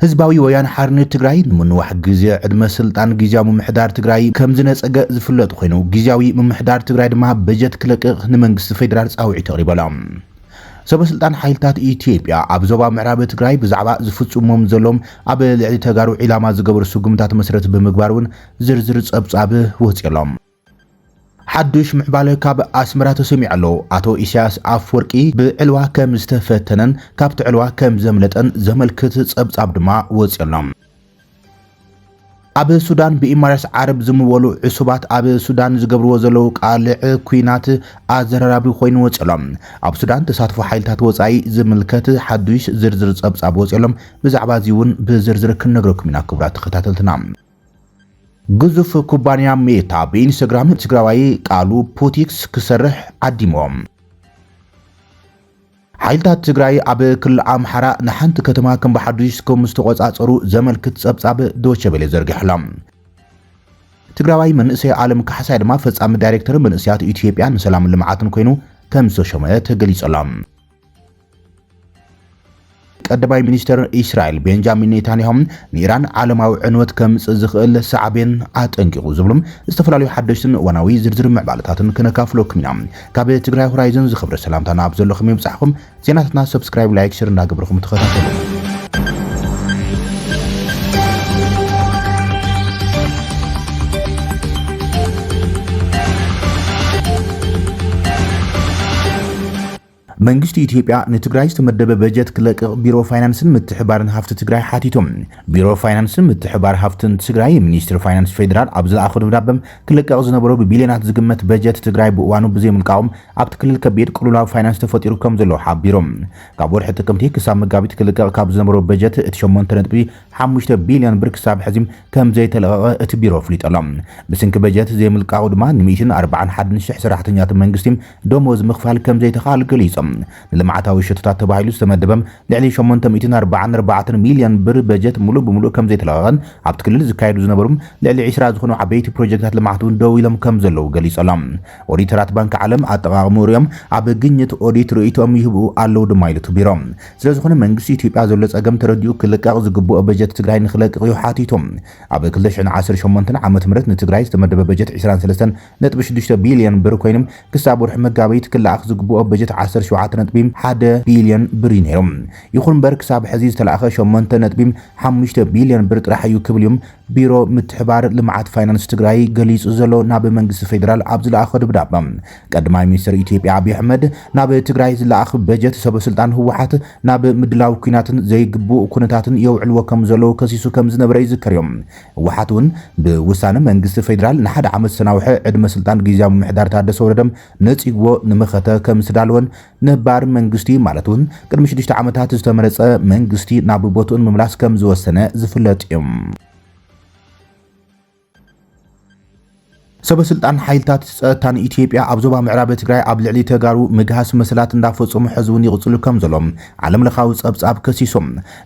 ህዝባዊ ወያነ ሓርነት ትግራይ ንምንዋሕ ግዜ ዕድመ ስልጣን ግዝያዊ ምምሕዳር ትግራይ ከምዝነፀገ ዝፍለጥ ኾይኑ ግዝያዊ ምምሕዳር ትግራይ ድማ በጀት ክለቅቕ ንመንግስቲ ፌዴራል ፃውዒት ኣቕሪቡ ኣሎ። ሰበ ስልጣን ሓይልታት ኢትዮጵያ ኣብ ዞባ ምዕራብ ትግራይ ብዛዕባ ዝፍፅሞም ዘሎም ኣብ ልዕሊ ተጋሩ ዒላማ ዝገበሩ ስጉምታት መሰረት ብምግባር እውን ዝርዝር ፀብፃብ ወፂኡ ኣሎ። ሓዱሽ ምዕባለ ካብ ኣስመራ ተሰሚዑ ኣሎ። ኣቶ ኢሳያስ ኣፍወርቂ ብዕልዋ ከም ዝተፈተነን ካብቲ ዕልዋ ከም ዘምለጠን ዘመልክት ጸብጻብ ድማ ወጺኡ ኣሎ። ኣብ ሱዳን ብኢማራስ ዓረብ ዝምወሉ ዕሱባት ኣብ ሱዳን ዝገብርዎ ዘለዉ ቃልዕ ኲናት ኣዘራራቢ ኮይኑ ወጺኡ ኣሎ። ኣብ ሱዳን ተሳትፎ ሓይልታት ወጻኢ ዝምልከት ሓዱሽ ዝርዝር ጸብጻብ ወጺኡ ኣሎ። ብዛዕባ እዚ እውን ብዝርዝር ክንነግረኩም ኢና ክቡራት ተኸታተልትና። ግዙፍ ኩባንያ ሜታ ብኢንስታግራም ትግራዋይ ቃሉ ፑቲክስ ክሰርሕ ዓዲሞም። ሓይልታት ትግራይ ኣብ ክልል ኣምሓራ ንሓንቲ ከተማ ከም ብሓዱሽ ከም ዝተቖጻጸሩ ዘመልክት ጸብጻብ ዶቼ ቬለ ዘርጊሑሎም። ትግራዋይ መንእሰይ ኣለም ካሕሳይ ድማ ፈጻሚ ዳይሬክተር መንእሰያት ኢትዮጵያ ንሰላምን ልምዓትን ኮይኑ ከም ዝተሾመ ተገሊጹሎም። ቀዳማይ ሚኒስትር እስራኤል ቤንጃሚን ኔታንያሁ ንኢራን ዓለማዊ ዕንወት ከምጽእ ዝኽእል ሳዕቤን ኣጠንቂቑ ዝብሉ ዝተፈላለዩ ሓደሽትን እዋናዊ ዝርዝር ምዕባለታትን ክነካፍለኩም ኢና። ካብ ትግራይ ሆራይዘን ዝኽብሪ ሰላምታ ናብ ዘለኹም ይብጻሕኩም። ዜናታትና ሰብስክራይብ፣ ላይክ፣ ሸር እንዳገበርኩም ተኸታተሉ። መንግስቲ ኢትዮጵያ ንትግራይ ዝተመደበ በጀት ክለቅቕ ቢሮ ፋይናንስን ምትሕባርን ሃፍቲ ትግራይ ሓቲቱ። ቢሮ ፋይናንስን ምትሕባር ሃፍትን ትግራይ ሚኒስትሪ ፋይናንስ ፌዴራል ኣብ ዝለኣኾ ደብዳበ ክለቀቕ ዝነበሮ ብቢልዮናት ዝግመት በጀት ትግራይ ብእዋኑ ብዘይምልቃቑ ኣብቲ ክልል ከቢድ ቅልውላው ፋይናንስ ተፈጢሩ ከምዘሎ ሓቢሩ። ካብ ወርሒ ጥቅምቲ ክሳብ መጋቢት ክልቀቕ ካብ ዝነበሮ በጀት እቲ ሸሞንተ ነጥቢ ሓሙሽተ ቢልዮን ብር ክሳብ ሕዚ ከምዘይተለቐቐ እቲ ቢሮ ኣፍሊጡ ኣሎ። ብስንኪ በጀት ዘይምልቃቑ ድማ ንሚእትን ኣርባዓን ሓደን ሽሕ ሰራሕተኛታት መንግስቲ ደሞዝ ምኽፋል ከምዘይተኽኣል ገሊፆም። ንልምዓታዊ ሸቶታት ተባሂሉ ዝተመደበ ልዕሊ ሸሞንተ ሚእትን ኣርባዓን ኣርባዕተን ሚልዮን ብር በጀት ሙሉእ ብሙሉእ ከምዘይተለቐቐን ኣብቲ ክልል ዝካየዱ ዝነበሩ ልዕሊ ዕስራ ዝኾኑ ዓበይቲ ፕሮጀክታት ልምዓት እውን ደው ኢሎም ከምዘለዉ ገሊፆሎም። ኦዲተራት ባንኪ ዓለም ኣጠቓቕምኡ ሪኦም ኣብ ግኝት ኦዲት ርእይትኦም ይህቡ ኣለዉ ድማ ኢሉ እቲ ቢሮ። ስለዝኾነ መንግስቲ ኢትዮጵያ ዘሎ ፀገም ተረዲኡ ክልቀቕ ዝግበኦ በጀት ትግራይ ንኽለቅቕ እዩ ሓቲቱ። ኣብ ክልተ ሽሕን ዓሰርተ ሸሞንተን ዓመተ ምህረት ንትግራይ ዝተመደበ በጀት ዕስራን ሰለስተን ነጥቢ ሽዱሽተ ቢልዮን ብር ኮይኑ ክሳብ ወርሒ መጋቢት ክለኣኽ ዝግብኦ በጀት ዓሰርተ ሸውዓተ ነጥቢ ሓደ ቢልዮን ብር እዩ ነይሩ። ይኹን እምበር ክሳብ ሕዚ ዝተለኣኸ ሸሞንተ ነጥቢ ሓሙሽተ ቢልዮን ብር ጥራሕ እዩ ክብል እዩ ቢሮ ምትሕባር ልምዓት ፋይናንስ ትግራይ ገሊፁ ዘሎ ናብ መንግስቲ ፌዴራል ኣብ ዝለኣኸ ደብዳበ። ቀዳማይ ሚኒስትር ኢትዮጵያ ኣብዪ ኣሕመድ ናብ ትግራይ ዝለኣኽ በጀት ሰበ ስልጣን ህወሓት ናብ ምድላው ኲናትን ዘይግቡእ ኩነታትን የውዕልዎ ከም ዘለዉ ከሲሱ ከም ዝነበረ ይዝከር እዩ። ህወሓት እውን ብውሳነ መንግስቲ ፌዴራል ንሓደ ዓመት ዝተናውሐ ዕድመ ስልጣን ጊዚያዊ ምምሕዳር ታደሰ ወረደ ነፂግዎ ንመኸተ ከምዝተዳለወን ነባር መንግስቲ ማለት እውን ቅድሚ ሽዱሽተ ዓመታት ዝተመረፀ መንግስቲ ናብ ቦትኡ ንምምላስ ከምዝወሰነ ዝፍለጥ እዩ። ሰበስልጣን ሓይልታት ፀጥታን ኢትዮጵያ ኣብ ዞባ ምዕራብ ትግራይ ኣብ ልዕሊ ተጋሩ ምግሃስ መሰላት እንዳፈፀሙ ሕዚ ውን ይቕፅሉ ከምዘሎም ዓለም ለኻዊ ፀብፃብ ከሲሱ።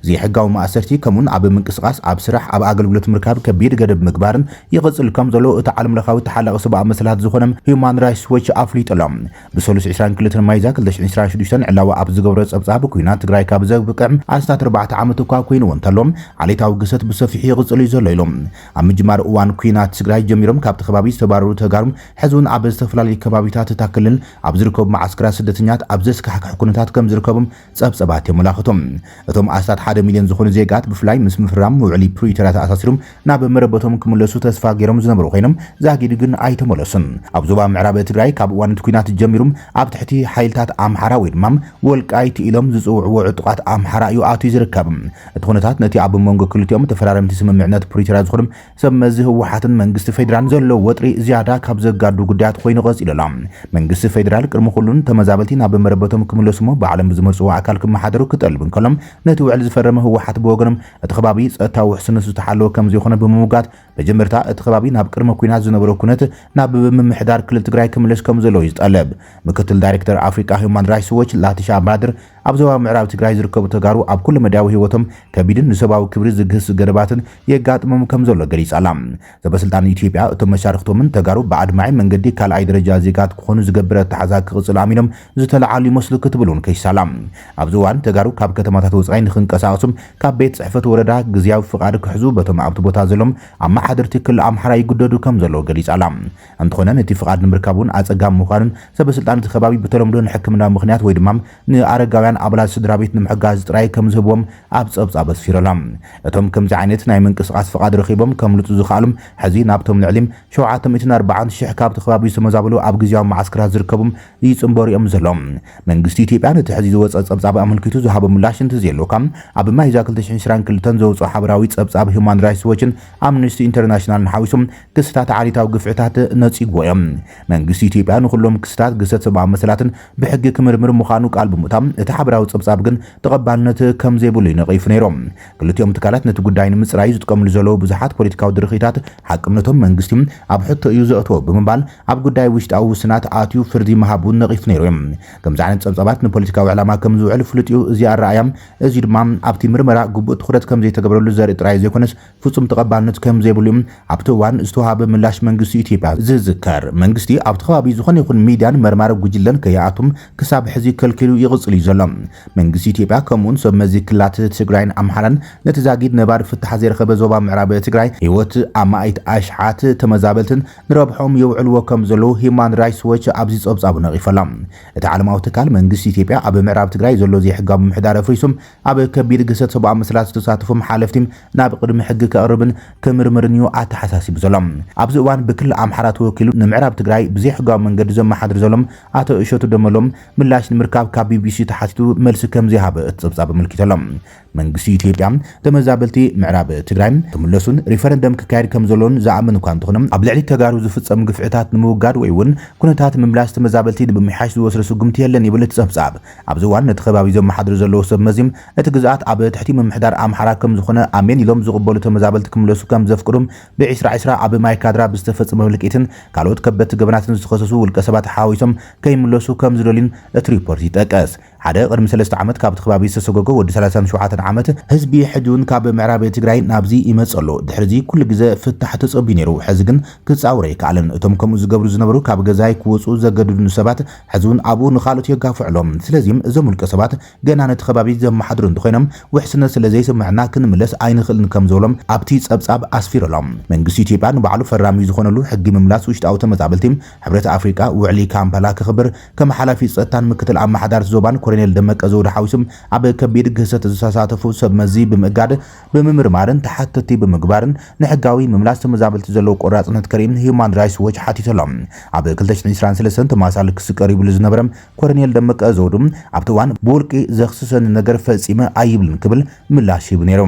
ዘይሕጋዊ ማእሰርቲ ከምኡውን ኣብ ምንቅስቓስ፣ ኣብ ስራሕ፣ ኣብ ኣገልግሎት ምርካብ ከቢድ ገደብ ምግባር ይቕፅል ከምዘሎ እቲ ዓለም ለኻዊ ተሓላቒ ሰብኣዊ መሰላት ዝኾነ ሂዩማን ራይትስ ዎች ኣፍሊጡ ኣሎ። ብሰሉስ ዕስራን ክልተን ሚያዝያ ክልተ ሽሕን ዕስራን ሽዱሽተን ዕላዊ ኣብ ዝገበሮ ፀብፃብ ኲናት ትግራይ ካብ ዘብቅዕ ኣስታት ኣርባዕተ ዓመት እኳ ኮይንዎ እንተሎ ዓሌታዊ ግህሰት ብሰፊሑ ይቕፅል እዩ ዘሎ ኢሉ። ኣብ ምጅማር እዋን ኲናት ትግራይ ጀሚሮም ካብቲ ከባቢ ዝተባረሩ ተጋሩ ሕዚ'ውን ኣብ ዝተፈላለዩ ከባቢታት እታ ክልል ኣብ ዝርከቡ መዓስከራት ስደተኛት ኣብ ዘስካሕክሕ ኩነታት ከምዝርከቡ ጸብጸባት የመላኽቱ። እቶም ኣስታት ሓደ ሚልዮን ዝኾኑ ዜጋት ብፍላይ ምስ ምፍራም ውዕሊ ፕሪቶርያ ተኣሳሲሩ ናብ መረበቶም ክምለሱ ተስፋ ገይሮም ዝነበሩ ኮይኖም ዛጊድ ግን ኣይተመለሱን። ኣብ ዞባ ምዕራብ ትግራይ ካብ እዋን እቲ ኲናት ጀሚሩ ኣብ ትሕቲ ሓይልታት ኣምሓራ ወይ ድማ ወልቃይት ኢሎም ዝጽውዕዎ ዕጡቓት ኣምሓራ እዩ ኣትዩ ዝርከብ። እቲ ኩነታት ነቲ ኣብ መንጎ ክልቲኦም ተፈራረምቲ ስምምዕነት ፕሪቶርያ ዝኾኑ ሰብ መዚ ህወሓትን መንግስቲ ፌዴራን ዘሎ ወጥሪ ዝያዳ ካብ ዘጋዱ ጉዳያት ኮይኑ ቀፂሉ ኣሎ። መንግስቲ ፌዴራል ቅድሚ ኩሉ ንተመዛበልቲ ናብ መረበቶም ክምለሱ'ሞ ባዕሎም ብዝመርፅዎ ኣካል ክመሓደሩ ክጠልብ እንከሎ ነቲ ውዕል ዝፈረመ ህወሓት ብወገኑ እቲ ከባቢ ፀጥታዊ ውሕስነቱ ዝተሓለወ ከምዘይኾነ ብምምጓት መጀመርታ እቲ ከባቢ ናብ ቅድመ ኩናት ዝነበሮ ኩነት ናብ ብምምሕዳር ክልል ትግራይ ክምለስ ከም ዘለዎ እዩ ዝጠለብ። ምክትል ዳይሬክተር ኣፍሪቃ ሂዩማን ራይትስ ዎች ላቲሻ ባድር ኣብ ዞባ ምዕራብ ትግራይ ዝርከቡ ተጋሩ ኣብ ኩለ መዳያዊ ህይወቶም ከቢድን ንሰብኣዊ ክብሪ ዝግህስ ገደባትን የጋጥሞም ከም ዘሎ ገሊጻ ኣላ። ሰበስልጣን ኢትዮጵያ እቶም መሻርኽቶምን ተጋሩ ብኣድማዒ መንገዲ ካልኣይ ደረጃ ዜጋት ክኾኑ ዝገብር ኣተሓዛ ክቕጽል ኣሚኖም ዝተለዓሉ ይመስሉ ክትብል እውን ከሲሳ ኣላ። ኣብዚ እዋን ተጋሩ ካብ ከተማታት ወጻኢ ንኽንቀሳቐሱ ካብ ቤት ፅሕፈት ወረዳ ግዝያዊ ፍቓድ ክሕዙ በቶም ኣብቲ ቦታ ዘሎም ኣመሓደርቲ ክልል ኣምሓራ ይግደዱ ከም ዘለዉ ገሊፃ ኣላ። እንተኾነ ነቲ ፍቓድ ንምርካብ እውን ኣፀጋሚ ምዃኑን ሰበስልጣን እቲ ከባቢ ብተለምዶ ንሕክምናዊ ምኽንያት ወይ ድማ ንኣረጋውያን ኣባላት ስድራቤት ንምሕጋዝ ጥራይ ከም ዝህብዎም ኣብ ፀብፃብ ኣስፊሩ ኣላ። እቶም ከምዚ ዓይነት ናይ ምንቅስቓስ ፍቓድ ረኺቦም ከምልጡ ዝኸኣሉ ሕዚ ናብቶም ልዕሊ ሸውዓተ ሚእትን ኣርባዓን ሺሕ ካብቲ ከባቢ ዝተመዛበሉ ኣብ ግዝያዊ መዓስከራት ዝርከቡ ይጽንበሩ እዮም ዘለዉ። መንግስቲ ኢትዮጵያ ነቲ ሕዚ ዝወጸ ጸብጻብ ኣመልኪቱ ዝሃቦ ምላሽ እንተዘየሎካ፣ ኣብ ሚያዝያ ክልተ ሽሕን ዕስራን ክልተን ዘውጽኦ ሓበራዊ ጸብጻብ ሁማን ራይትስ ዎችን ኣምነስቲ ኢንተርናሽናልን ሓዊሱ ክስታት ዓሌታዊ ግፍዕታት ነጺግዎ እዮም። መንግስቲ ኢትዮጵያ ንኹሎም ክስታት ግህሰት ሰብኣዊ መሰላትን ብሕጊ ክምርምር ምዃኑ ቃል ብምእታው፣ እቲ ሓበራዊ ጸብጻብ ግን ተቐባልነት ከምዘይብሉ እዩ ነቒፉ ነይሩ። ክልቲኦም ትካላት ነቲ ጉዳይ ንምጽራይ ዝጥቀምሉ ዘለዉ ብዙሓት ፖለቲካዊ ድርኺታት ሓቅነቶም መንግስቲ ኣብ ሕቶ እዩ ዘእትዎ ብምባል ኣብ ጉዳይ ውሽጣዊ ውስናት ኣትዩ ፍርዲ ምሃቡ ነቒፉ ነይሩ እዩ። ከምዚ ዓይነት ጸብጻባት ንፖለቲካዊ ዕላማ ከም ዝውዕል ፍሉጥ እዩ። እዚ ኣረኣእያ እዚ ድማ ኣብቲ ምርመራ ግቡእ ትኹረት ከም ዘይተገብረሉ ዘርኢ ጥራይ ዘይኮነስ ፍጹም ተቐባልነት ከም ዘይብሉ እዩ ኣብቲ እዋን ዝተዋህበ ምላሽ መንግስቲ ኢትዮጵያ ዝዝከር። መንግስቲ ኣብቲ ከባቢ ዝኾነ ይኹን ሚድያን መርማሪ ጉጅለን ከይኣቱ ክሳብ ሕዚ ከልኪሉ ይቕጽል እዩ ዘሎ። መንግስቲ ኢትዮጵያ ከምኡ'ውን ሰብ መዚ ክልላት ትግራይን ኣምሓራን ነቲ ዛጊድ ነባሪ ፍታሕ ዘይረኸበ ዞባ ምዕራብ ትግራይ ህይወት ኣማኢት ኣሽሓት ተመዛበልትን ንረብሖኦም የውዕልዎ ከም ዘለዉ ሂዩማን ራይትስ ዎች ኣብዚ ጸብጻቡ ነቒፉ ኣሎ። እቲ ዓለማዊ ትካል፣ መንግስቲ ኢትዮጵያ ኣብ ምዕራብ ትግራይ ዘሎ ዘይሕጋዊ ምምሕዳር ኣፍሪሱ ኣብ ከቢድ ግህሰት ሰብኣዊ መሰላት ዝተሳተፎም ሓለፍቲ ናብ ቕድሚ ሕጊ ከቕርብን ክምርምርን እዩ ኣተሓሳሲቡ ዘሎ። ኣብዚ እዋን ብክልል ኣምሓራ ተወኪሉ ንምዕራብ ትግራይ ብዘይሕጋዊ መንገዲ ዘመሓድር ዘሎ ኣቶ እሸቱ ደመሎ ምላሽ ንምርካብ ካብ ቢቢሲ ተሓቲቱ መልሲ ከምዘይሃበ እቲ ጸብጻብ ኣመልኪቱ ኣሎ። መንግስቲ ኢትዮጵያ ተመዛበልቲ ምዕራብ ትግራይ ክምለሱን ሪፈረንደም ክካየድ ከምዘሎን ዝኣምን እኳ እንተኾነ ኣብ ልዕሊ ተጋሩ ዝፍፀም ግፍዕታት ንምውጋድ ወይ እውን ኩነታት ምምላስ ተመዛበልቲ ንምምሕያሽ ዝወስዶ ስጉምቲ የለን ይብል እቲ ፀብፃብ። ኣብዚ እዋን ነቲ ከባቢ ዘመሓድሩ ዘለዉ ሰብ መዚ እቲ ግዝኣት ኣብ ትሕቲ ምምሕዳር ኣምሓራ ከምዝኾነ ኣሜን ኢሎም ዝቕበሉ ተመዛበልቲ ክምለሱ ከምዘፍቅዱ ብ ዕስራ ዕስራ ኣብ ማይካድራ ብዝተፈፀመ ህልቂትን ካልኦት ከበድቲ ገበናትን ዝተኸሰሱ ውልቀሰባት ሓዋዊሶም ከይምለሱ ከምዝደልዩን እቲ ሪፖርት ይጠቅስ። ሓደ ቅድሚ ሰለስተ ዓመት ካብቲ ክባቢ ዝተሰጎጎ ወዲ ሰላሳን ሸውዓተን ዓመት ህዝቢ ሕጂውን ካብ ምዕራብ ትግራይ ናብዚ ይመጽእ ኣሎ ድሕሪዚ ኩሉ ግዘ ፍታሕ ተጸብዩ ነይሩ ሕዚ ግን ክጻወር ኣይከኣለን እቶም ከምኡ ዝገብሩ ዝነበሩ ካብ ገዛይ ክወጹ ዘገድዱኒ ሰባት ሕዚውን ኣብኡ ንኻልኦት የጋፍዑ ኣሎም ስለዚ እዞም ውልቀ ሰባት ገና ነቲ ከባቢ ዘመሓድሩ እንተኾይኖም ውሕስነት ስለዘይስመዐና ክንምለስ ኣይንኽእልን ከምዝበሎም ኣብቲ ጸብጻብ ኣስፊሩ ኣሎ መንግስቲ ኢትዮጵያ ንባዕሉ ፈራሚ ዝኾነሉ ሕጊ ምምላስ ውሽጣዊ ተመዛበልቲ ሕብረት ኣፍሪቃ ውዕሊ ካምፓላ ከኽብር ከም ሓላፊ ጸጥታን ምክትል ኣመሓዳርቲ ዞባን ኮሎኔል ደመቀ ዘውዱ ሓዊሱ ኣብ ከቢድ ግህሰት ዝተሳተፉ ሰብ መዚ ብምእጋድ፣ ብምምርማርን ተሓተትቲ ብምግባርን ንሕጋዊ ምምላስ ተመዛበልቲ ዘለዎ ቆራጽነት ከርኢ ህዩማን ራይትስ ዎች ሓቲቱ ኣሎ። ኣብ ክልተ ሽሕን ዕስራን ሰለስተን ተመሳሳሊ ክሲ ቀሪብሉ ዝነበረ ኮሎኔል ደመቀ ዘውዱ ኣብቲ እዋን ብውልቂ ዘኽስሰኒ ነገር ፈጺመ ኣይብልን ክብል ምላሽ ሂቡ ነይሩ።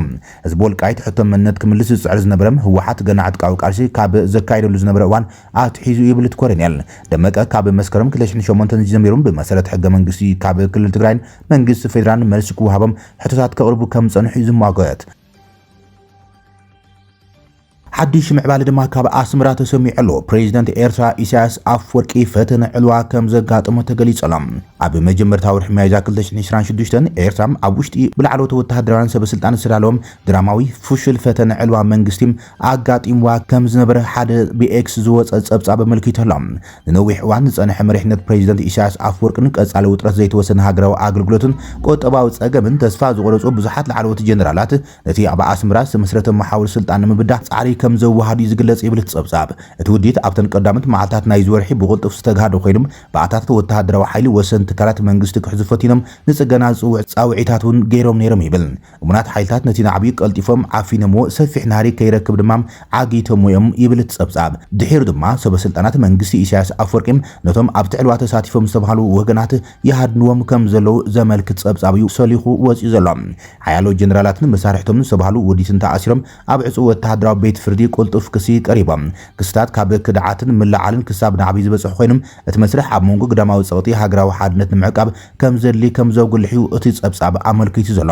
ህዝቢ ወልቃይት ሕቶ መንነት ክምልስ ዝጽዕር ዝነበረ ህወሓት ገና ዕጥቃዊ ቃልሲ ካብ ዘካይደሉ ዝነበረ እዋን ኣትሒዙ ይብል እቲ ኮረኔል ደመቀ። ካብ መስከረም ክልተ ሽሕን ሸሞንተን ጀሚሮም ብመሰረት ሕገ መንግስቲ ካብ ክልል ትግራይን መንግስቲ ፌዴራልን መልሲ ክወሃቦም ሕቶታት ከቕርቡ ከም ዝፀንሑ እዩ ዝሟገት። ሓድሽ ምዕባለ ድማ ካብ ኣስመራ ተሰሚዑ ኣሎ። ፕሬዚደንት ኤርትራ ኢሳያስ ኣፍወርቂ ፈተነ ዕልዋ ከም ዘጋጠሞ ተገሊጹ ኣሎ። ኣብ መጀመርታ ወርሒ ሚያዝያ ክልተ ሽሕን ዕስራን ሽዱሽተን ኤርትራ ኣብ ውሽጢ ብላዕለዎት ወተሃደራውያን ሰበስልጣን ዝተዳለወ ድራማዊ ፍሹል ፈተነ ዕልዋ መንግስቲ ኣጋጢምዋ ከም ዝነበረ ሓደ ብኤክስ ዝወጸ ጸብጻብ ኣመልኪቱ ኣሎ። ንነዊሕ እዋን ዝጸንሐ መሪሕነት ፕረዚደንት ኢሳይያስ ኣፍወርቅን ቀጻሊ ውጥረት ዘይተወሰነ ሃገራዊ ኣገልግሎትን ቁጠባዊ ጸገምን ተስፋ ዝቖረጹ ብዙሓት ላዕለዎት ጀነራላት ነቲ ኣብ ኣስመራ ዝተመስረተ መሓውር ስልጣን ንምብዳህ ጻዕሪ ከም ዘወሃዱ እዩ ዝግለጽ ይብል እቲ ጸብጻብ። እቲ ውዲት ኣብተን ቀዳሞት መዓልታት ናይዚ ወርሒ ብቕልጡፍ ዝተግሃደ ኮይኑ ባእታታት ወተሃደራዊ ሓይሊ ወሰንቲ ትካላት መንግስቲ ክሕዙ ፈቲኖም ንጽገና ዝጽውዕ ጻውዒታት እውን ገይሮም ነይሮም ይብል። እሙናት ሓይልታት ነቲ ናዕቢ ቀልጢፎም ዓፊኖምዎ፣ ሰፊሕ ናህሪ ከይረክብ ድማ ዓጊቶምዎ እዮም ይብል እቲ ጸብጻብ። ድሒሩ ድማ ሰበስልጣናት መንግስቲ ኢሳያስ ኣፍወርቂ ነቶም ኣብቲ ዕልዋ ተሳቲፎም ዝተብሃሉ ወገናት ይሃድንዎም ከም ዘለዉ ዘመልክት ጸብጻብ እዩ ሰሊኹ ወጺኡ ዘሎ። ሓያሎ ጀነራላትን መሳርሕቶምን ዝተብሃሉ ውዲትን ተኣሲሮም ኣብ ዕጹው ወተሃደራዊ ቤት ፍርዲ ቅልጡፍ ክሲ ቀሪቦም። ክስታት ካብ ክድዓትን ምልዕዓልን ክሳብ ናዕቢ ዝበጽሑ ኮይኖም እቲ መስርሕ ኣብ መንጎ ግዳማዊ ጸቕጢ ሃገራዊ ሓድነት ንምዕቃብ ከም ዘድሊ ከም ዘጉልሕ'ዩ እቲ ጸብጻብ ኣመልኪቱ ዘሎ።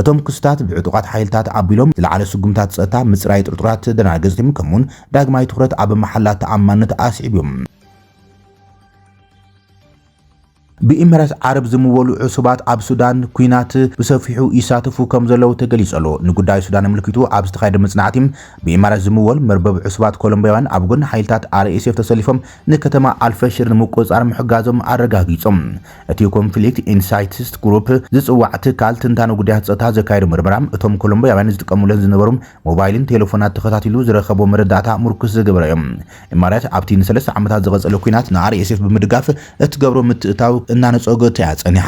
እቶም ክስታት ብዕጡቓት ሓይልታት ኣቢሎም ዝለዓለ ስጉምታት ጸጥታ፣ ምጽራይ ጥርጡራት ተደናገጽቲ፣ ከምኡ'ውን ዳግማይ ትኹረት ኣብ መሓላ ተኣማንነት ኣስዒቡ'ዩ። ብኢምራት ዓረብ ዝምወሉ ዕሱባት ኣብ ሱዳን ኲናት ብሰፊሑ ይሳተፉ ከም ዘለዉ ተገሊጹ ኣሎ። ንጉዳይ ሱዳን ኣመልኪቱ ኣብ ዝተኻየደ መጽናዕቲ፣ ብኢማራት ዝምወል መርበብ ዕሱባት ኮሎምብያውያን ኣብ ጎኒ ሓይልታት RSF ተሰሊፎም ንከተማ ኣልፈሽር ንምቁጽጻር ምሕጋዞም ኣረጋጊጾም። እቲ ኮንፍሊክት ኢንሳይትስ ግሩፕ ዝጽዋዕ ትካል ትንታነ ጉዳያት ጸጥታ ዘካየዶ ምርመራ፣ እቶም ኮሎምብያውያን ዝጥቀሙለን ዝነበሩ ሞባይልን ቴለፎናት ተኸታቲሉ ዝረኸቦ መረዳእታ ምርኩስ ዝገበረ እዩ። ኢማራት ኣብቲ ንሰለስተ ዓመታት ዝቐጸለ ኲናት ንኣርኤስኤፍ ብምድጋፍ እትገብሮ ምትእትታው እናነጸገቶ እያ ጸኒሓ።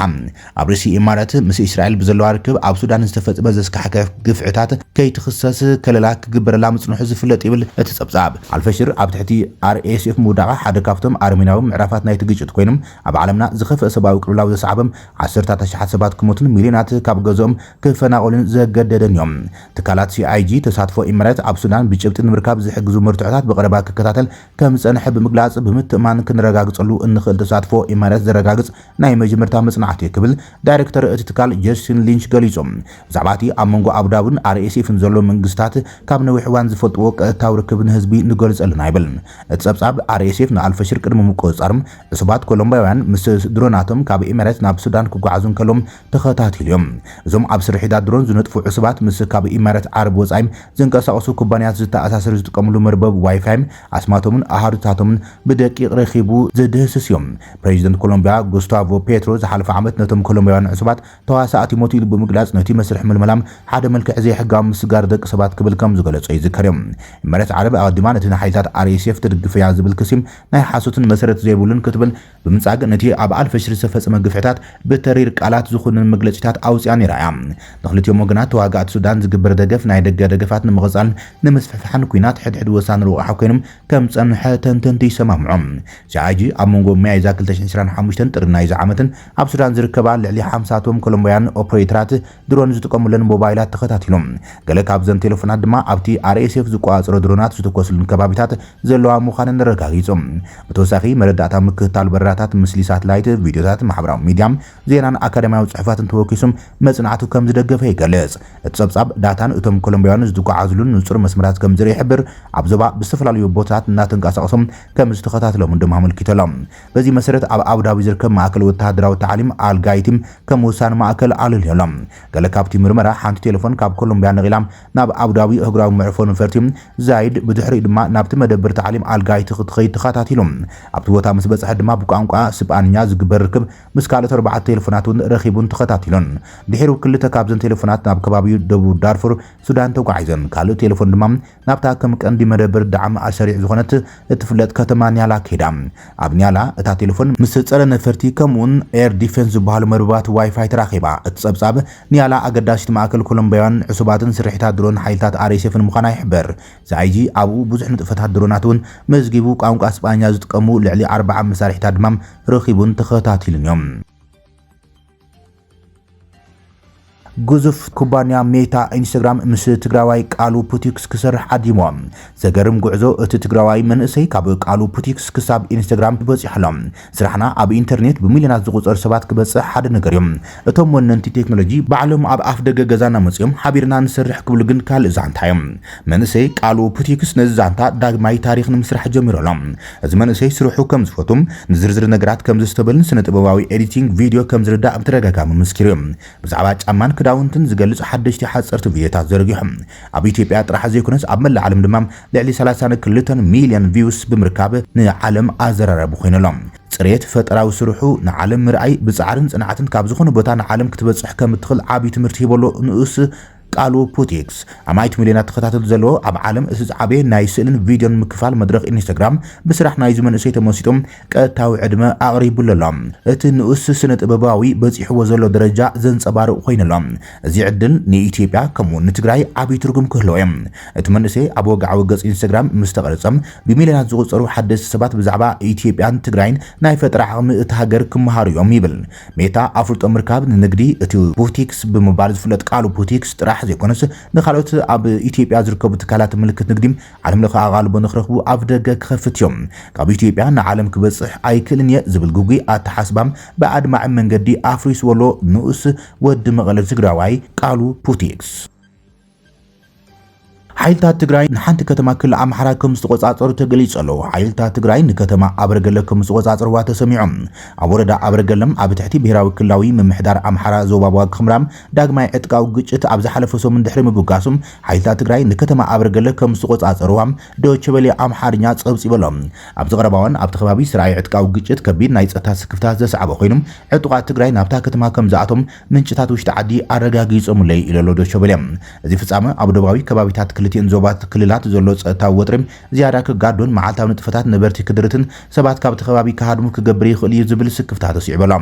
ኣብ ርእሲ ኢማራት ምስ ኢስራኤል ብዘለዋ ርክብ ኣብ ሱዳን ዝተፈጽመ ዘስካሕክሕ ግፍዕታት ከይትኽሰስ ከለላ ክግበረላ ምጽንሑ ዝፍለጥ ይብል እቲ ጸብጻብ። ኣልፈሽር ኣብ ትሕቲ RSF ምውዳቓ ሓደ ካብቶም ኣረሜናዊ ምዕራፋት ናይቲ ግጭት ኮይኑ፣ ኣብ ዓለምና ዝኸፍኣ ሰብኣዊ ቅልውላው ዘስዓበ፣ ዓሰርታት ኣሽሓት ሰባት ክሞቱን ሚልዮናት ካብ ገዝኦም ክፈናቐሉን ዘገደደንዮ። ትካላት CIG ተሳትፎ ኢማራት ኣብ ሱዳን ብጭብጢ ንምርካብ ዝሕግዙ መርትዖታት ብቐረባ ክከታተል ከምዝጸንሐ ብምግላጽ፣ ብምትእምማን ክነረጋግጸሉ እንኽእል ተሳትፎ ኢማራት ዘረጋግጽ ናይ መጀመርታ መጽናዕቲ'ዩ ክብል ዳይረክተር እቲ ትካል ጀስቲን ሊንች ገሊጹ። ብዛዕባ እቲ ኣብ መንጎ ኣቡዳብን ኣርኤስኤፍን ዘሎ መንግስታት ካብ ነዊሕ እዋን ዝፈልጥዎ ቀጥታዊ ርክብ ንህዝቢ ንገልጾ ኣለና ይብል። እቲ ጸብጻብ፣ ኣርኤስኤፍ ንኣልፈሽር ቅድሚ ምቁጽጻር፣ ዕሱባት ኮሎምብያውያን ምስ ድሮናቶም ካብ ኤሚሬትስ ናብ ሱዳን ክጓዓዙ እንከለዉ ተኸታቲሉ እዩ። እዞም ኣብ ስርሒታት ድሮን ዝነጥፉ ዕሱባት ምስ ካብ ኢማራት ዓረብ ወጻኢ ዝንቀሳቐሱ ኩባንያታት ዝተኣሳሰር ዝጥቀምሉ መርበብ ዋይፋይ ኣስማቶምን ኣሃዱታቶምን ብደቂቕ ረኺቡ ዝድህስስ እዩ። ፕረዚደንት ኮሎምብያ ጉስታቮ ፔትሮ ዝሓለፈ ዓመት ነቶም ኮሎምብያውያን ዕሱባት ተዋሳእቲ ሞት ኢሉ ብምግላጽ ነቲ መስርሕ ምልመላም ሓደ መልክዕ ዘይሕጋዊ ምስጋር ደቂ ሰባት ክብል ከም ዝገለጾ ይዝከር እዩ። ኢማራት ዓረብ ኣቐዲማ ነቲ ንሓይልታት RSF ትድግፍ'ያ ዝብል ክሲ ናይ ሓሶትን መሰረት ዘይብሉን ክትብል ብምንጻግ ነቲ ኣብ ኣልፈሽር ዝተፈጸመ ግፍዕታት ብተሪር ቃላት ዝኹንን መግለጺታት ኣውጺኣ ነይራ እያ። ንኽልቲኦም ወገናት ተዋጋእቲ ሱዳን ዝግበር ደገፍ ናይ ደገ ደገፋት ንምቕጻልን ንምስፍሕፋሕን ኲናት ሕድሕድ ወሳኒ ረቛሒ ኮይኑ ከም ዝጸንሐ ተንተንቲ ይሰማምዑ። CIG ኣብ መንጎ ሚያዝያ ክልተ ሽሕን ዕስራን ሓሙሽተን ጥሪ ናይዚ ዓመትን ኣብ ሱዳን ዝርከባ ልዕሊ ሓምሳ ቶም ኮሎምብያውያን ኦፕሬተራት ድሮን ዝጥቀሙለን ሞባይላት ተኸታቲሎም። ገለ ካብዘን ቴለፎናት ድማ ኣብቲ RSF ዝቆጻጸሮ ድሮናት ዝተኮስሉን ከባቢታት ዘለዋ ምዃነን ኣረጋጊጾም። ብተወሳኺ መረዳእታ ምክትታል በረራታት፣ ምስሊ ሳትላይት፣ ቪድዮታት፣ ማሕበራዊ ሚድያ፣ ዜናን ኣካዳሚያዊ ጽሑፋትን ተወኪሱም መጽናዕቱ ከም ዝደገፈ ይገልጽ። እቲ ጸብጻብ፣ ዳታን እቶም ኮሎምብያውያን ዝጓዓዙሉን ንጹር መስመራት ከም ዝርኢ ይሕብር፣ ኣብ ዞባ ብዝተፈላለዩ ቦታታት እናተንቀሳቐሱ ከም ዝተኸታተሎምን ድማ ኣመልኪቶሎም። በዚ መሰረት ኣብ ኣቡዳቢ ዝርከብ ማእከል ወተሃደራዊ ታዕሊም ኣል ጋይቲም ከም ወሳኒ ማእከል ኣለልዮ ኣሎ። ገለ ካብቲ ምርመራ፣ ሓንቲ ቴለፎን ካብ ኮሎምብያ ነቒላ ናብ ኣቡዳቢ ኣህጉራዊ መዕርፎ ነፈርቲ ዛይድ ብድሕሪኡ ድማ ናብቲ መደበር ታዕሊም ኣል ጋይቲ ክትኸይድ ተኸታቲሉ። ኣብቲ ቦታ ምስ በጽሐት ድማ ብቋንቋ ስጳንኛ ዝግበር ርክብ ምስ ካልኦት ኣርባዕተ ቴለፎናት እውን ረኺቡን ተኸታቲሉን። ድሒሩ ክልተ ካብዘን ቴለፎናት ናብ ከባቢ ደቡብ ዳርፉር ሱዳን ተጓዒዘን፣ ካልእ ቴለፎን ድማ ናብታ ከም ቀንዲ መደብር ዳዕም ኣሰሪዕ ዝኾነት እትፍለጥ ከተማ ኒያላ ከይዳ። ኣብ ኒያላ እታ ቴለፎን ምስ ጸረ ነፈርቲ ከምኡ'ውን ኤር ዲፌንስ ዝበሃሉ መርበባት ዋይፋይ ተራኺባ። እቲ ጸብጻብ፣ ኒያላ ኣገዳሲት ማእከል ኮሎምብያውያንን ዕሱባትን ስርሒታት ድሮን ሓይልታት ኣርኤስኤፍን ምዃና ይሕብር። ሲኣይጂ ኣብኡ ብዙሕ ንጥፈታት ድሮናት'ውን መዝጊቡ፣ ቋንቋ ስጳኛ ዝጥቀሙ ልዕሊ ኣርብዓ መሳርሒታት ድማ ረኺቡን ተኸታቲሉን'ዩ። ግዙፍ ኩባንያ ሜታ ኢንስታግራም ምስ ትግራዋይ ቃሉ ፑቲክስ ክሰርሕ ዓዲሞ። ዘገርም ጉዕዞ እቲ ትግራዋይ መንእሰይ ካብ ቃሉ ፑቲክስ ክሳብ ኢንስታግራም በፂሑ ኣሎ። ስራሕና ኣብ ኢንተርኔት ብሚልዮናት ዝቑፀር ሰባት ክበፅሕ ሓደ ነገር እዩ። እቶም ወነንቲ ቴክኖሎጂ ባዕሎም ኣብ ኣፍ ደገ ገዛና መፂኦም ሓቢርና ንሰርሕ ክብሉ ግን ካልእ ዛንታ እዩ። መንእሰይ ቃሉ ፑቲክስ ነዚ ዛንታ ዳግማይ ታሪኽ ንምስራሕ ጀሚሩ ኣሎ። እዚ መንእሰይ ስርሑ ከም ዝፈቱን ንዝርዝር ነገራት ከም ዘስተብህልን ስነ-ጥበባዊ ኤዲቲንግ ቪድዮ ከም ዝርዳእ ብተደጋጋሚ መስኪሩ እዩ። ብዛዕባ ጫማን ክዳውንትን ዝገልጽ ሓደሽቲ ሓጸርቲ ቪድዮታት ዘርጊሑ ኣብ ኢትዮጵያ ጥራሕ ዘይኮነስ ኣብ መላእ ዓለም ድማ ልዕሊ ሰላሳን ክልተን ሚልዮን ቪውስ ብምርካብ ንዓለም ኣዘራራቢ ኮይኑ ኣሎ። ጽሬት ፈጠራዊ ስርሑ ንዓለም ምርኣይ ብጻዕርን ጽንዓትን ካብ ዝኾነ ቦታ ንዓለም ክትበጽሕ ከም እትኽእል ዓቢ ትምህርቲ ሂቡ ኣሎ ንኡስ ቃሉ ፑቲክስ፣ ኣማኢት ሚልዮናት ተኸታተልቲ ዘለዎ ኣብ ዓለም እቲ ዝዓበየ ናይ ስእልን ቪድዮን ምክፋል መድረኽ ኢንስታግራም፣ ብስራሕ ናይዚ መንእሰይ ተመሲጡ ቀጥታዊ ዕድመ ኣቕሪቡሉ ኣሎ። እቲ ንኡስ ስነ-ጥበባዊ በጺሕዎ ዘሎ ደረጃ ዘንጸባርቕ ኮይኑ ኣሎ። እዚ ዕድል ንኢትዮጵያ ከምኡ'ውን ንትግራይ ዓቢ ትርጉም ክህልዎ'ዩ። እቲ መንእሰይ ኣብ ወግዓዊ ገጽ ኢንስታግራም ምስ ተቐርጸ፣ ብሚልዮናት ዝቑጸሩ ሓደስቲ ሰባት ብዛዕባ ኢትዮጵያን ትግራይን ናይ ፈጠራ ዓቕሚ እታ ሃገር ክመሃሩ'ዮም ይብል። ሜታ ኣፍልጦ ምርካብ ንንግዲ እቲ ቡቲክስ ብምባል ዝፍለጥ ቃሉ ቡቲክስ ጥራሕ ዘይኮነስ ንካልኦት ኣብ ኢትዮጵያ ዝርከቡ ትካላት ምልክት ንግዲ ዓለም ለኸ ኣቓልቦ ንክረኽቡ ኣፍደገ ክኸፍት እዮ። ካብ ኢትዮጵያ ንዓለም ክበፅሕ ኣይክእልን እየ ዝብል ግጉይ ኣተሓስባ ብኣድማዒ መንገዲ ኣፍሪስዎ ኣሎ ንኡስ ወዲ መቐለ ትግራዋይ ቃሉ ቡቲክስ። ሓይልታት ትግራይ ንሓንቲ ከተማ ክልል ኣምሓራ ከም ዝተቖጻጸሩ ተገሊጹ ኣሎ። ሓይልታት ትግራይ ንከተማ ኣበርገለ ከም ዝተቖጻጸርዋ ተሰሚዑ። ኣብ ወረዳ ኣበርገለ ኣብ ትሕቲ ብሄራዊ ክልላዊ ምምሕዳር ኣምሓራ ዞባ ዋግኽምራ ዳግማይ ዕጥቃዊ ግጭት ኣብ ዝሓለፈ ሰሙን ድሕሪ ምብጋሱ ሓይልታት ትግራይ ንከተማ ኣበርገለ ከም ዝተቖጻጸርዋ ዶይቼ ቬለ ኣምሓርኛ ጸብጺቡ ኣሎ። ኣብዚ ቀረባ እዋን ኣብቲ ከባቢ ዝተርኣየ ዕጥቃዊ ግጭት ከቢድ ናይ ጸጥታ ስክፍታ ዘስዓበ ኮይኑ ዕጡቓት ትግራይ ናብታ ከተማ ከም ዝኣትዎም ምንጭታት ውሽጢ ዓዲ ኣረጋጊጾምለይ ኢሎ'ሎ ዶቸበሌ። እዚ ፍጻመ ኣብ ዶባዊ ከባቢታት ክልቲኤን ዞባት ክልላት ዘሎ ጸጥታዊ ወጥሪ ዝያዳ ክጋዶን መዓልታዊ ንጥፈታት ነበርቲ ክድርትን ሰባት ካብ'ቲ ከባቢ ክሃድሙ ክገብር ይኽእል እዩ ዝብል ስክፍታ ተስዒቡ'ሎ።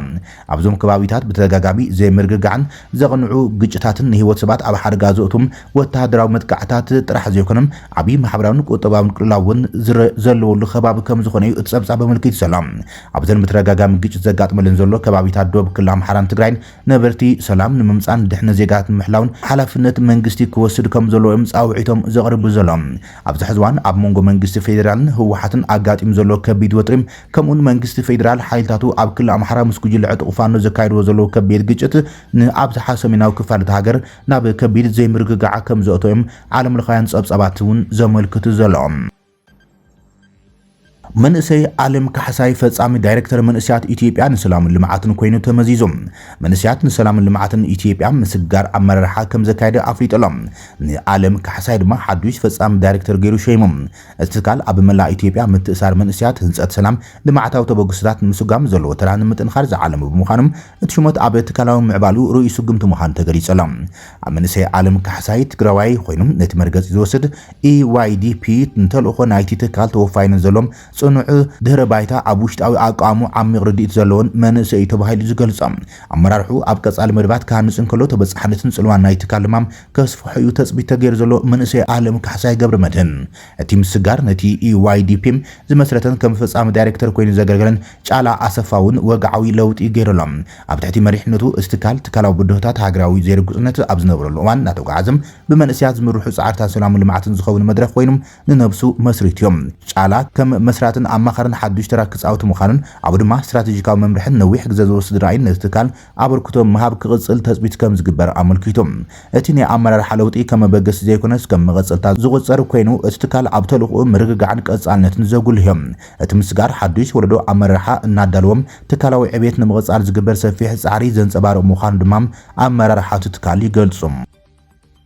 ኣብ'ዞም ከባቢታት ብተደጋጋሚ ዘይምርግጋዕን ዘቕንዑ ግጭታትን ንህይወት ሰባት ኣብ ሓደጋ ዘእቱ ወተሃደራዊ መጥቃዕታት ጥራሕ ዘይኮነ ዓቢ ማሕበራዊን ቁጠባዊን ቅልውላው እውን ዘለዎሉ ከባቢ ከምዝኾነ እዩ እቲ ጸብጻብ ኣመልኪቱ ዘሎ። ኣብዘን ብተደጋጋሚ ግጭት ዘጋጥመለን ዘሎ ከባቢታት ዶብ ክልል ኣምሓራን ትግራይን ነበርቲ ሰላም ንምምፃእን ድሕነት ዜጋታት ንምሕላውን ሓላፍነት መንግስቲ ክወስድ ከምዘለዎ እዮም ፃውዒቶም ዘቕርቡ ዘለዉ። ኣብዚ ሕዚ እዋን ኣብ መንጎ መንግስቲ ፌዴራልን ህወሓትን ኣጋጢሙ ዘሎ ከቢድ ወጥሪ ከምኡውን መንግስቲ ፌዴራል ሓይልታቱ ኣብ ክልል ኣምሓራ ምስ ጉጅለ ዕጡቕ ፋኖ ዘካይድዎ ዘለዉ ከቢድ ግጭት ንኣብዝሓ ሰሜናዊ ክፋል እታ ሃገር ናብ ከቢድ ዘይምርግጋዕ ከምዘእተዎ እዮም ዓለምለኻውያን ፀብፃባት እውን ዘመልክቱ ዘለዉ። መንእሰይ ዓለም ካሕሳይ ፈጻሚ ዳይሬክተር መንእሰያት ኢትዮጵያ ንሰላምን ልምዓትን ኮይኑ ተመዚዙ። መንእሰያት ንሰላምን ልምዓትን ኢትዮጵያ ምስጋር ኣመራርሓ ከምዘካየደ ኣፍሊጡ ኣሎ። ንዓለም ካሕሳይ ድማ ሓዱሽ ፈጻሚ ዳይሬክተር ገይሩ ሸይሙ። እቲ ትካል ኣብ መላእ ኢትዮጵያ ምትእሳር መንእሰያት፣ ህንጸት ሰላም፣ ልምዓታዊ ተበግሶታት ንምስጓም ዘለዎ ተራ ንምጥንኻር ዝዓለመ ብምዃኑ እቲ ሹመት ኣብ ትካላዊ ምዕባልኡ ርኡይ ስጉምቲ ምዃኑ ተገሊጹ ኣሎ። ኣብ መንእሰይ ዓለም ካሕሳይ፣ ትግራዋይ፣ ኮይኑ ነቲ መርገጺ ዝወስድ EYDP ንተልእኾ ናይቲ ትካል ተወፋይነት ዘሎን ጽኑዕ ድህረ ባይታ ኣብ ውሽጣዊ ኣቃውምኡ ዓሚቕ ርድኢት ዘሎዎን መንእሰይ እዩ ተባሂሉ ዝገልጾ ኣመራርሕኡ ኣብ ቀጻሊ መደባት ክሃንጽ እንከሎ ተበጻሕነትን ጽልዋን ናይቲ ትካል ድማ ከስፍሖ እዩ ተጽቢት ተገይሩ ዘሎ መንእሰይ ዓለም ካሕሳይ ገብረመድህን እቲ ምስጋር ነቲ EYDP ዝመስረተን ከም ፈጻሚ ዳይሬክተር ኮይኑ ዘገልገለን ጫላ ኣሰፋ ውን ወግዓዊ ለውጢ ዩ ገይሩ ኣሎ። ኣብ ትሕቲ መሪሕነቱ እዚ ትካል ትካላዊ ብድሆታት ሃገራዊ ዘይርጉጽነት ኣብ ዝነብረሉ እዋን እናተጓዓዘ ብመንእሰያት ዝምርሑ ጻዕርታት ሰላምን ልምዓትን ዝኸውን መድረኽ ኮይኑ ንነብሱ መስሪቱ ዩ። ጫላ ከም መስራትን ኣማኻርን ሓዱሽ ተራ ክጻውት ምዃኑን ኣብኡ ድማ ስትራተጂካዊ መምርሕን ነዊሕ ግዘ ዝወስድ ራእይን ነቲ ትካል ኣበርክቶ ምሃብ ክቕጽል ተጽቢት ከም ዝግበር ኣመልኪቱ። እቲ ናይ ኣመራርሓ ለውጢ ከም መበገሲ ዘይኮነስ ከም መቐጸልታ ዝቑጸር ኮይኑ፣ እቲ ትካል ኣብ ተልእኾኡ ምርግጋዕን ቀጻልነትን ዘጉልህዮ። እቲ ምስጋር ሓዱሽ ወለዶ ኣመራርሓ እናዳለወ ትካላዊ ዕብየት ንምቕጻል ዝግበር ሰፊሕ ጻዕሪ ዘንጸባርቕ ምዃኑ ድማ ኣመራርሓ እቲ ትካል ይገልጹ።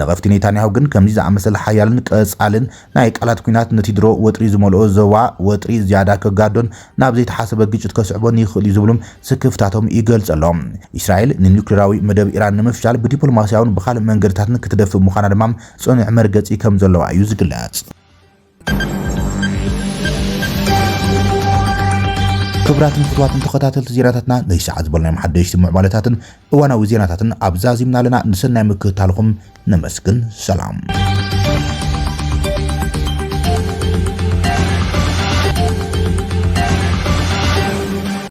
ነቐፍቲ ኔታንያሁ ግን ከምዚ ዝኣመሰለ ሓያልን ቀጻልን ናይ ቃላት ኲናት ነቲ ድሮ ወጥሪ ዝመልኦ ዞባ ወጥሪ ዝያዳ ከጋዶን ናብ ዘይተሓሰበ ግጭት ከስዕቦን ይኽእል'ዩ ዝብሉ ስክፍታቶም ይገልጹ ኣለው። እስራኤል ንኑክሌራዊ መደብ ኢራን ንምፍሻል ብዲፕሎማስያውን ብኻልእ መንገድታትን ክትደፍእ ምዃና ድማ ጽኑዕ መርገጺ ከምዘለዋ እዩ ዝግለጽ። ክብራትን ፍትዋትን ተኸታተልቲ ዜናታትና ናይ ሰዓት ዝበልናዮም ሓደሽቲ ምዕባለታትን እዋናዊ ዜናታትን ኣብ ዛዚምና ኣለና ንሰናይ ምክትታልኹም ነመስግን ሰላም